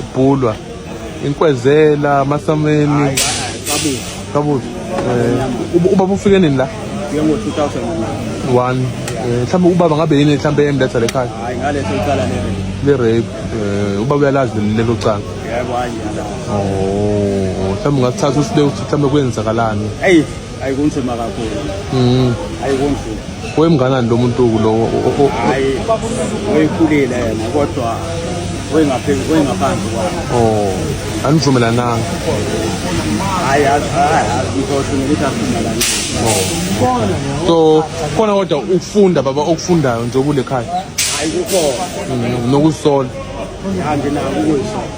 ibhulwa inkwezela amasameni kabuza eh, ubaba ufike nini la ngo-2001 eh, mhlawumbe ubaba ngabe yini mhlawumbe emletha le khaya hayi ngaleso icala le rape eh, ubaba uyalazi lelo cala yebo hayi oh mhlawumbe ungasithatha usibeke ukuthi mhlawumbe kwenzakalani eyi hayi kunzima kakhulu mm. hayi kunzima wemnganani lo muntu kulowo hayi weyikhulile yena kodwa wengaphezu wengaphansi kwami oh anivumelananga hayi ngizosho nokuthi asivumelani oh. so khona kodwa ukufunda baba okufundayo nje kule khaya hayi kukhona mm, nokusola anginako ukuyisola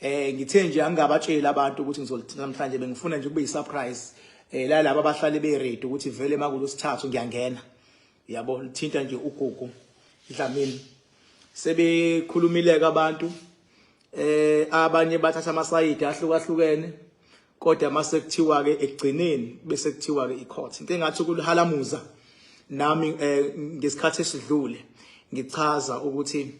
Eh ngithe nje angingabatsheli abantu ukuthi ngizolithinta namhlanje bengifuna nje kube yisurprise eh la laba abahlale be ready ukuthi vele makulo sithathu ngiyangena. Yabo lithinta nje ugugu idlamini. Sebekhulumileke abantu eh abanye bathatha amasayidi ahlukahlukene kodwa mase kuthiwa ke ekugcineni bese kuthiwa ke icourt into engathi kulihalamuza nami eh, ngesikhathi esidlule ngichaza ukuthi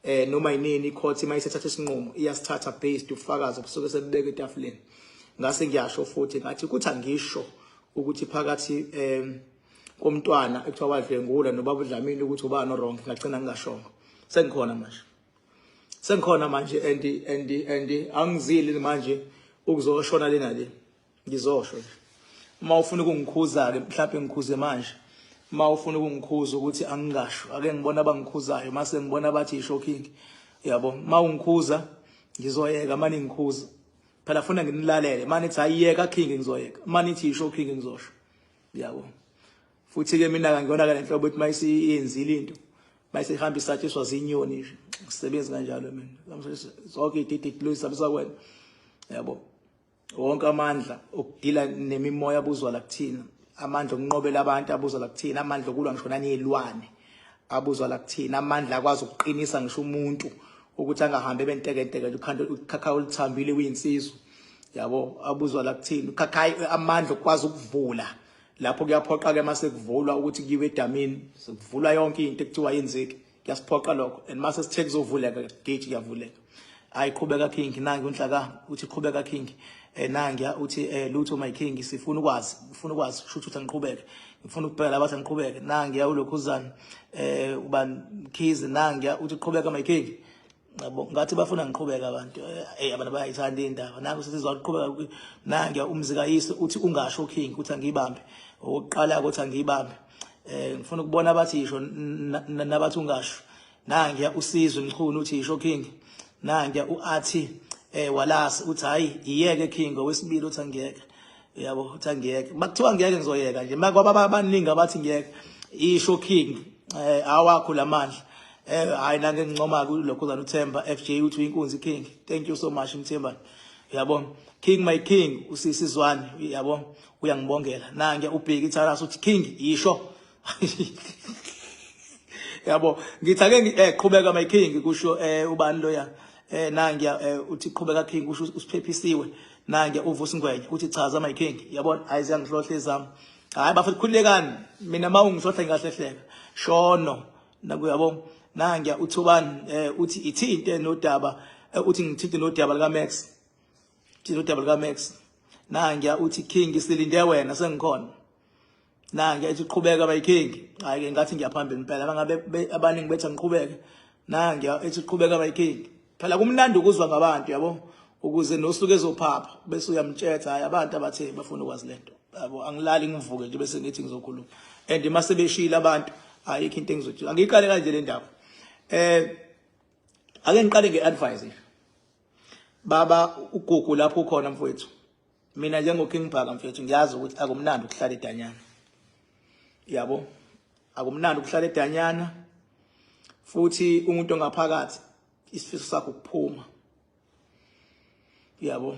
eh noma yinini icourt uma isethatha isinqumo iyasithatha based ufakazi obusuke sebubeke etafuleni ngase ngiyasho futhi ngathi ukuthi angisho ukuthi phakathi eh komntwana ekuthiwa wadlwengula nobaba uDlamini ukuthi ubani orong ngagcina ngingashongo sengikhona manje sengikhona manje and and and angizili manje ukuzoshona lena le ngizosho nje uma ufuna ukungikhuza ke mhlawumbe ngikhuze manje uma ufuna ukungikhuza ukuthi angingasho ake ngibona abangikhuzayo mase ngibona bathi ishocking yabo uma ungikhuza ngizoyeka mani ngikhuza phela funa nginilalele mani nithi ayiyeka king ngizoyeka mani nithi ishocking ngizosho yabo futhi ke mina kangiyona ke lenhlobo ukuthi mayisiyenzile into mayisihamba isatshiswa zinyoni nje ngisebenzi kanjalo mina zonke ididi dilo isabusa kwena yabo wonke amandla okudila nemimoya abuzwa la kuthina amandla okunqobela abantu abuzwa la kuthina amandla okulwa ngisho naniyilwane abuzwa la kuthina amandla akwazi ukuqinisa ngisho umuntu ukuthi angahambi ebentekenteke ukhanda ukhakha oluthambile kuyinsizwa yabo abuzwa la kuthina ukhakha amandla okwazi ukuvula lapho kuyaphoqa ke mase kuvulwa ukuthi kiwe edamini sekuvulwa yonke into ekuthiwa yenzeki kuyasiphoqa lokho and mase sithe kuzovuleka gate kuyavuleka hayi qhubeka king nangi unhlaka uthi qhubeka king eh nangiya uthi eh lutho my king sifuna ukwazi ngifuna ukwazi kusho ukuthi ngiqhubeke ngifuna ukubheka abathi ngiqhubeke nangiya ulokhuzana eh uba khizi nangiya uthi qhubeka my king yabo ngathi bafuna ngiqhubeka abantu hey abantu bayayithanda indaba nangu sesizwa ukuqhubeka nange umzikayise uthi ungasho king ukuthi angiyibambe oqala ukuthi angiyibambe eh ngifuna ukubona abathi yisho nabathi ungasho nange usizwe mchunu uthi yisho king nange uathi eh walasi uthi hayi iyeke king owesibili uthi angiyeke uyabo ukuthi angiyeke makuthiwa ngiyeke ngizoyeka nje makwaba abaningi abathi ngiyeke isho king eh awakho lamandla eh hayi nange ngincoma kulokho zana uThemba FJ uthi inkunzi king thank you so much Mthemba uyabo king my king usisi Zwane uyabo uyangibongela nange ubheki itharasa uthi king isho yabo ngithi ake eh, qhubeka my king kusho eh, ubani loya eh nangiya eh, uthi qhubeka king kusho usiphephisiwe nangiya uvusa ingwenya uthi chaza my king yabona hayi ziyangihlohle izami hayi bafethu khulekani mina ma ungihlohla ngingahlehleka shono nakuyabo nangiya uthi ubani eh, uthi ithi into enodaba eh, uthi ngithinte nodaba lika Max thinte nodaba lika Max nangiya uthi king silinde wena sengikhona nange ethi qhubeka my king hayi ke ngathi ngiyaphambili impela bangabe abaningi bethi angiqhubeke nange ethi qhubeka my king phela kumnandi ukuzwa ngabantu yabo ukuze nosuke ezophapha bese uyamtshetha hayi abantu abathe bafuna ukwazi lento yabo angilali ngivuke nje bese ngithi ngizokhuluma and mase beshila abantu ayikho into engizothi angiqale kanje le ndaba eh ake ngiqale ngeadvice baba ugugu lapho ukhona mfowethu mina njengoking bhaka mfethu ngiyazi ukuthi akumnandi ukuhlala edanyana yabo akumnandi ukuhlala edanyana futhi umuntu ongaphakathi isifiso sakho ukuphuma yabo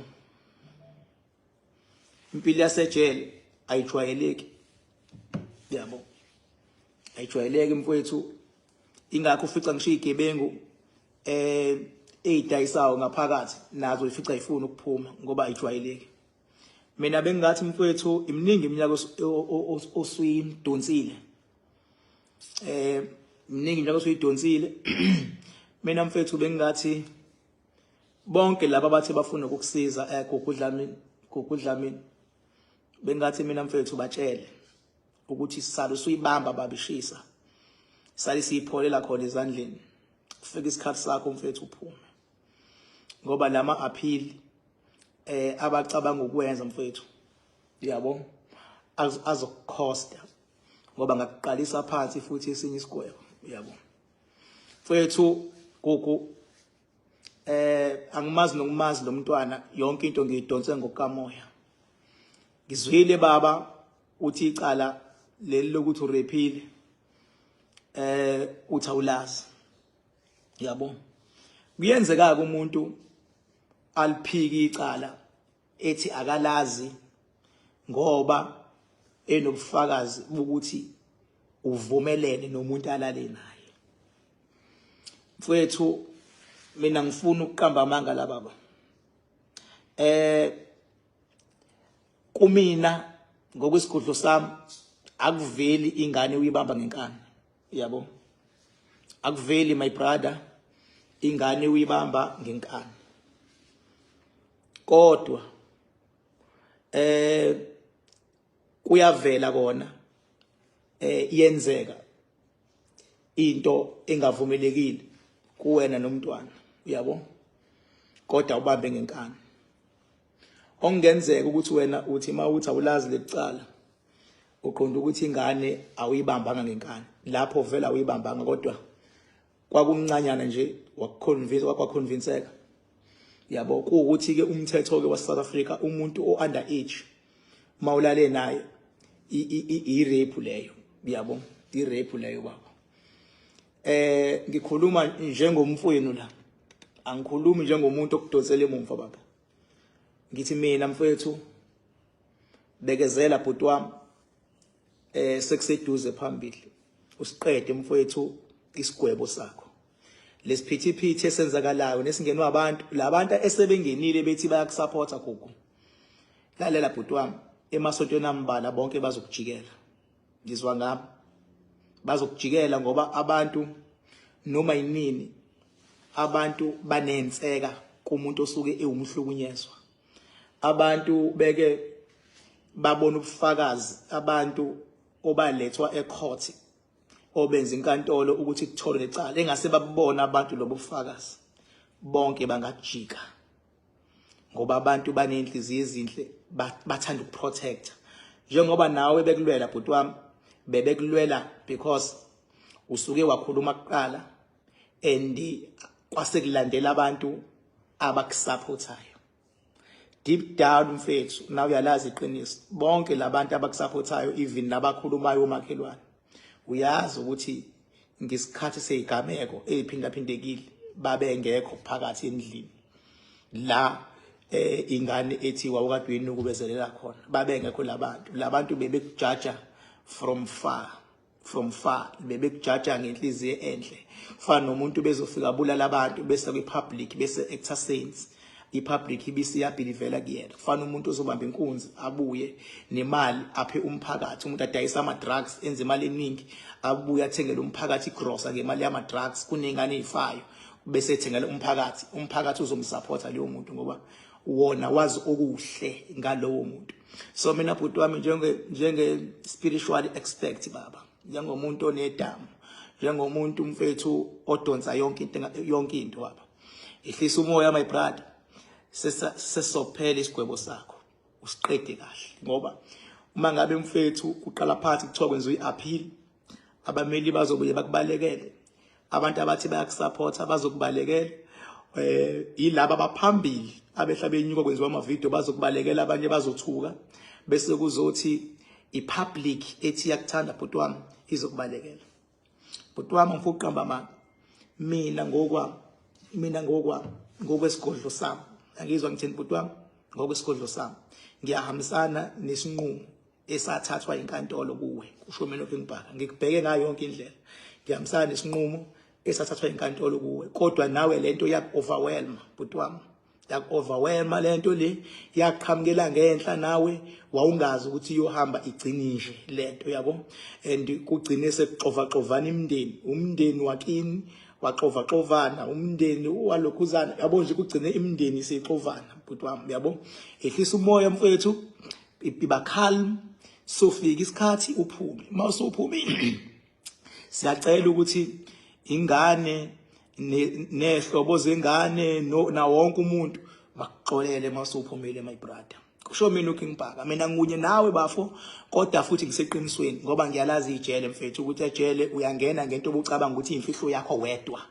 impilo yasejele ayijwayeleki yabo ayijwayeleki mfowethu ingakho ufica ngisho igebengu eh eyidayisawo ngaphakathi nazo ifica ifuna ukuphuma ngoba ayijwayeleki mina bengingathi mfowethu iminingi iminyaka osuyidonsile eh iminingi iminyaka osuyidonsile mina mfowethu bengingathi bonke laba abathi bafuna ukukusiza eh gugudlamini gugudlamini bengathi mina mfethu batshele ukuthi sisale usuyibamba baba ishisa sale siyipholela khona ezandleni kufika isikhathi sakho mfethu uphume ngoba lama appeal eh abacabanga ukwenza mfethu yabo azokukhosta ngoba ngakuqalisa phansi futhi esinye isigwebo yabo mfethu gogo eh angimazi nokumazi lomntwana yonke into ngiyidonse ngokamoya ngizwile baba uthi icala leli lokuthi urephile eh uthi awulazi yabo kuyenzeka ke umuntu aliphiki icala ethi akalazi ngoba enobufakazi bokuthi uvumelene nomuntu alale naye mfowethu mina ngifuna ukuqamba amanga la baba eh kumina ngokwesigodlo sami akuveli ingane uyibamba ngenkani yabo akuveli my brother ingane uyibamba ngenkani kodwa eh kuyavela kona eh iyenzeka into engavumelekile kuwena nomntwana uyabo kodwa ubambe ngenkani Okungenzeka ukuthi wena uthi uma uthi awulazi lekucala uqonda ukuthi ingane awuyibambanga ngenkani lapho vele awuyibambanga kodwa kwakumncanyana nje wakuconvince wakwaconvinceka yabo kuwukuthi ke umthetho ke wase South Africa umuntu o under age uma ulale naye i rape leyo yabo i rape leyo baba Eh ngikhuluma njengomfwenu la. Angikhulumi njengomuntu okudonsela emumva baba. Ngithi mina mfethu bekezela bhuti wami eh sekuseduze phambili usiqede mfowethu isigwebo sakho lesiphithiphithi esenzakalayo nesingenwa abantu labantu esebengenile bethi bayakusupporta gogo lalela bhuti wami emasontweni ambalwa bonke bazokujikela ngizwa ngami bazokujikela ngoba abantu noma yinini abantu banenseka kumuntu osuke ewumhlukunyezwa abantu beke babona ubufakazi abantu obalethwa ecourt obenza inkantolo ukuthi kutholwe lecala engase babona abantu lobo bufakazi bonke bangajika ngoba abantu baney'nhliziyo ezinhle bathanda ukuprotecta njengoba nawe bekulwela bhuti wami bebekulwela because usuke wakhuluma kuqala and kwasekulandela abantu abakusaphothayo deep down mfethu nawe uyalazi iqiniso bonke labantu abakusaphothayo even nabakhulumayo omakhelwane uyazi ukuthi ngesikhathi seyigameko eziphindaphintekile babengekho phakathi endlini la eh ingane ethi wawukadweni ukubezelela khona babengekho labantu labantu bebekujaja from far from far bebekujaja ngenhliziyo enhle kufana nomuntu bezofika bulala abantu bese kwi public bese exercise ipublic ibisi yabhilivela kuyena kufana umuntu ozobamba inkunzi abuye nemali aphe umphakathi umuntu adayisa ama drugs enze imali eningi abuye athengele umphakathi igrosa ngemali yama drugs kunengane ezifayo bese ethengele umphakathi umphakathi uzomsupporta leyo muntu ngoba wona wazi okuhle ngalowo muntu so mina bhuti wami njenge njenge spiritual expect baba njengomuntu onedama njengomuntu umfethu odonsa yonke into yonke into baba Ihlisa umoya my brother. Sesophela isigwebo sakho. Usiqede kahle ngoba uma ngabe mfethu uqala phansi kuthiwa kwenza uyi-appeal abameli bazobuye bakubalekele abantu abathi bayakusupporta bazokubalekela um eh, yilaba abaphambili abehla benyuka kwenziwa amavidiyo bazokubalekela abanye bazothuka bese kuzothi i-public ethi iyakuthanda bhuti wami izokubalekela bhuti wami ngifuna ukuqamba amanga mina ngokwami mina ngokwami ngokwesigodlo sami angizwa ngithini bhuti wami ngokwesigodlo sami ngiyahambisana nesinqumo esathathwa inkantolo kuwe kusho mina ngibhaka ngikubheke ngayo yonke indlela ngiyahambisana nesinqumo esathathwa inkantolo kuwe kodwa nawe lento iyaku overwhelm bhuti wami yakuoverwhelma lento le yaqhamukela ngenhla nawe wawungazi ukuthi iyohamba igcini nje lento yabo and kugcine sekuxovaxovana imndeni umndeni wakini waxovaxovana umndeni walokhuzana yabo nje kugcine imndeni seyixovana bhuti wami yabo ehlisa umoya mfethu iba calm sofika isikhathi uphume uma usuphumile siyacela ukuthi ingane nehlobo zengane na wonke umuntu bakuxolele masuphumile my brother kusho mina uking bhaka mina ngikunye nawe bafo kodwa futhi ngiseqinisweni ngoba ngiyalazi ijele mfethu ukuthi ejele uyangena ngento obucabanga ukuthi imfihlo yakho wedwa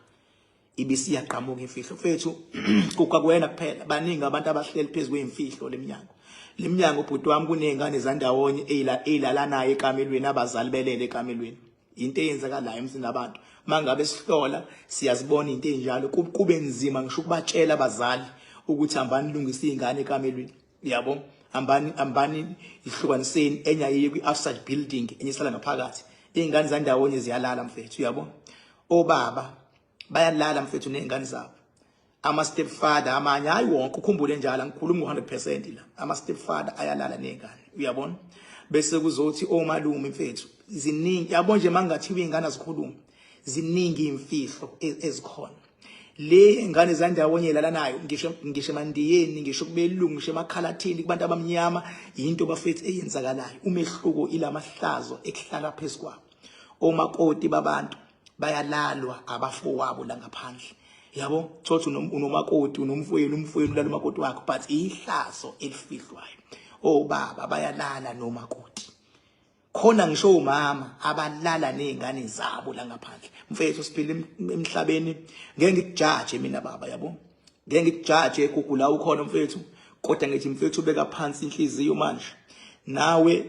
ibisiyaqhamuka imfihlo mfethu kukakwena kuphela baningi abantu abahleli phezu kweyimfihlo lemnyango lemnyango ubhuti wami kunezingane zandawonye eyilala naye ekamelweni abazali belele ekamelweni into eyenzakalayo emsini abantu mangabe sihlola siyazibona into enjalo kube nzima ngisho ukubatshela abazali ukuthi hambani lungisa izingane ekamelweni yabo hambani hambani ihlukaniseni enye ayiye kwi-outside building enye isala ngaphakathi iy'ngane zandawonye ziyalala mfethu uyabona obaba bayalala mfethu nezingane zabo ama step father amanye hayi wonke ukhumbule njalo angikhulumi ngo100% la ama step father ayalala nezingane uyabona bese kuzothi omalume oh, mfethu ziningi yabo nje mangathiwa izingane azikhulumi ziningi imfihlo e-, ezikhona le ingane zandawonye lalanayo ngisho ngisho emandiyeni ngisho kubelungu ngisho emakhalathini kubantu abamnyama yinto bafethu eyenzakalayo umehluko ilamahlazo ekuhlala phezulu kwabo omakoti babantu bayalalwa abafowabo la ngaphandle yabo thothi unomakoti unomfowenu umfowenu ulala umakoti wakho but ihlazo elifihlwayo obaba oh, bayalala nomakoti khona ngisho umama abalala nezingane zabo la ngaphandle mfethu siphila emhlabeni ngeke ngikujaje mina baba yabo ngeke ngikujaje egugu la ukhona mfethu kodwa ngithi mfethu beka phansi inhliziyo manje nawe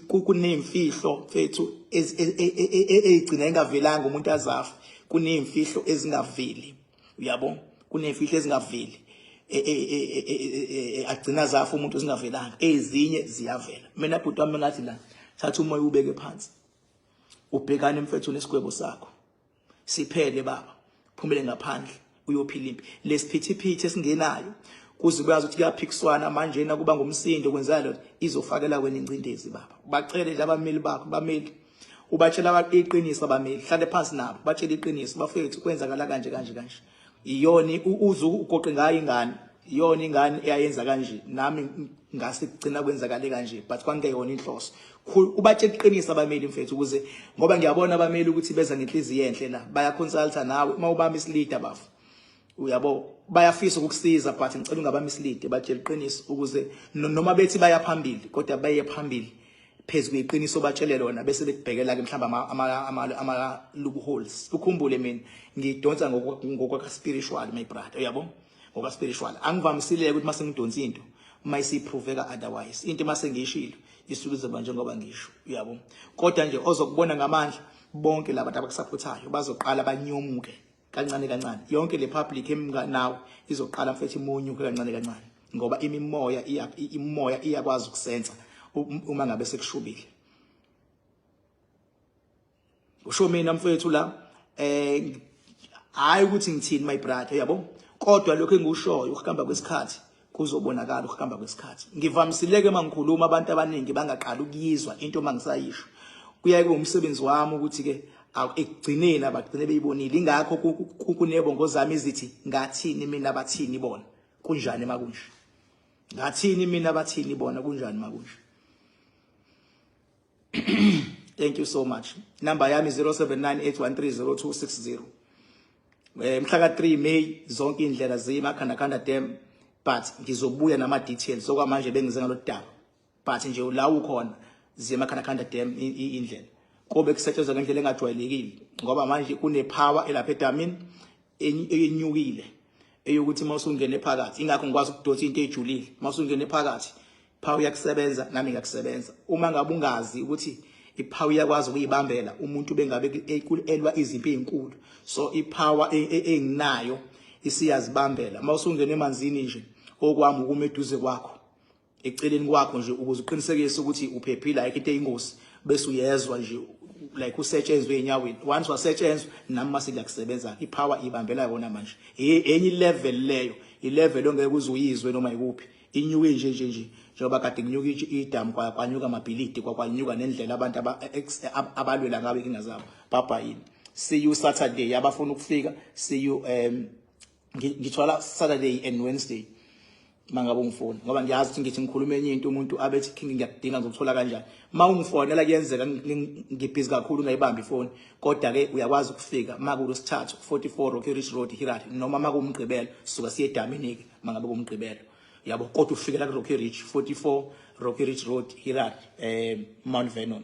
kunemfihlo mfethu ezigcina engavelanga umuntu azafa kunemfihlo ezingaveli uyabo kunemfihlo ezingaveli agcina zafa umuntu ezingavelanga ezinye ziyavela mina bhuti wami ngathi la thatha umoya ubeke phansi ubhekane mfethu nesigwebo sakho siphele baba phumele ngaphandle uyophila impi lesiphithiphithi esingenayo kuze kuyazi ukuthi kuyaphikiswana manje na kuba ngumsindo kwenzeka lento izofakela wena ingcindezi baba bacele nje abameli bakho bameli ubatshela iqiniso abameli hlale phansi nabo batshele iqiniso bafethu kwenzakala kanje kanje kanje iyona uze ugoqe ngayo ingane iyona ingane eyayenza kanje nami ngase kugcina kwenzakale kanje but kwangeyona inhloso ubatshe iqiniso abameli mfethu ukuze ngoba ngiyabona abameli ukuthi beza ngenhliziyo enhle la baya consulta nawe uma ubami isilida bafo uyabo bayafisa ukukusiza but ngicela ungabami isilide batshela iqiniso ukuze noma bethi baya phambili kodwa baye phambili phezu kweqiniso batshele lona bese bekubhekela ke mhlamba ama ama ama loopholes ukhumbule mina ngidonsa ngokwaka spiritual my brother uyabo ngokwaka spiritual angivamisile ukuthi mase ngidonsa into mayisiphroveka otherwise into mase ngiyishilo isuke izoba njengoba ngisho uyabo kodwa nje ozokubona ngamandla bonke laba abakusaphuthayo bazoqala banyomuke kancane kancane yonke le public emka nawe izoqala mfethu imunyuke kancane kancane ngoba imimoya iya imoya iyakwazi ukusenza um, uma ngabe sekushubile usho mina mfethu la eh hayi ukuthi ngithini my brother yabo kodwa lokho engikushoyo ukuhamba kwesikhathi kuzobonakala ukuhamba kwesikhathi ngivamisileke uma ngikhuluma abantu abaningi bangaqali ukuyizwa into uma ngisayisho kuyaye kube umsebenzi wami ukuthi-ke ekugcineni abagcine beyibonile ingakho kunebongo zami ezithi ngathini mina bathini bona kunjani uma kunje ngathini mina bathini bona kunjani uma kunje thank you so much number yami 0798130260 eh, mhla ka-3 may zonke iy'ndlela ziyimakhandakhanda dam but ngizobuya nama-details okwamanje bengize ngalo daba but nje la ukhona ziyemakhandakhanda dam iy'ndlela kobe kusetshenzwa ngendlela engajwayelekile ngoba manje kunepower elapha edamini enyukile eyokuthi uma usungene phakathi ingakho ngikwazi ukudonsa into ejulile uma usungene phakathi Phawu iyakusebenza nami ngiyakusebenza. Uma ngabe ungazi ukuthi iphawu iyakwazi ukuyibambela umuntu bengabe elwa izimpi ezinkulu. So ipower e, e, enginayo isiyazibambela. Uma usungena emanzini nje okwami ukuma eduze kwakho eceleni kwakho nje ukuze uqinisekise ukuthi uphephile ayikho into eyingozi bese uyezwa nje like usetshenzwe enyaweni once wasetshenzwa nami mase kuyakusebenza ipower ibambela yona manje enye level leyo ilevel ongeke uzuyizwe noma ikuphi inyuke nje nje nje njengoba kade kunyuka idamu kwanyuka amabhilidi kwakwanyuka nendlela abantu abalwela ngabe inkinga zabo bhabha yini see you saturday abafuna ukufika see you um ngithwala saturday and wednesday mangabe ungifona ngoba ngiyazi ukuthi ngithi ngikhuluma enye into umuntu abethi king ngiyakudinga ngizokuthola kanjani uma ungifonela kuyenzeka ngibhizi kakhulu ngayibambi ifoni kodwa ke uyakwazi ukufika makulosithathu 44 Rocky Ridge Road Hirari noma makumgqibelo suka siye edamini ke mangabe kumgqibelo yabo kodwa ufikela kuRocky Ridge 44 Rocky Ridge Road Hirar eh Mount Vernon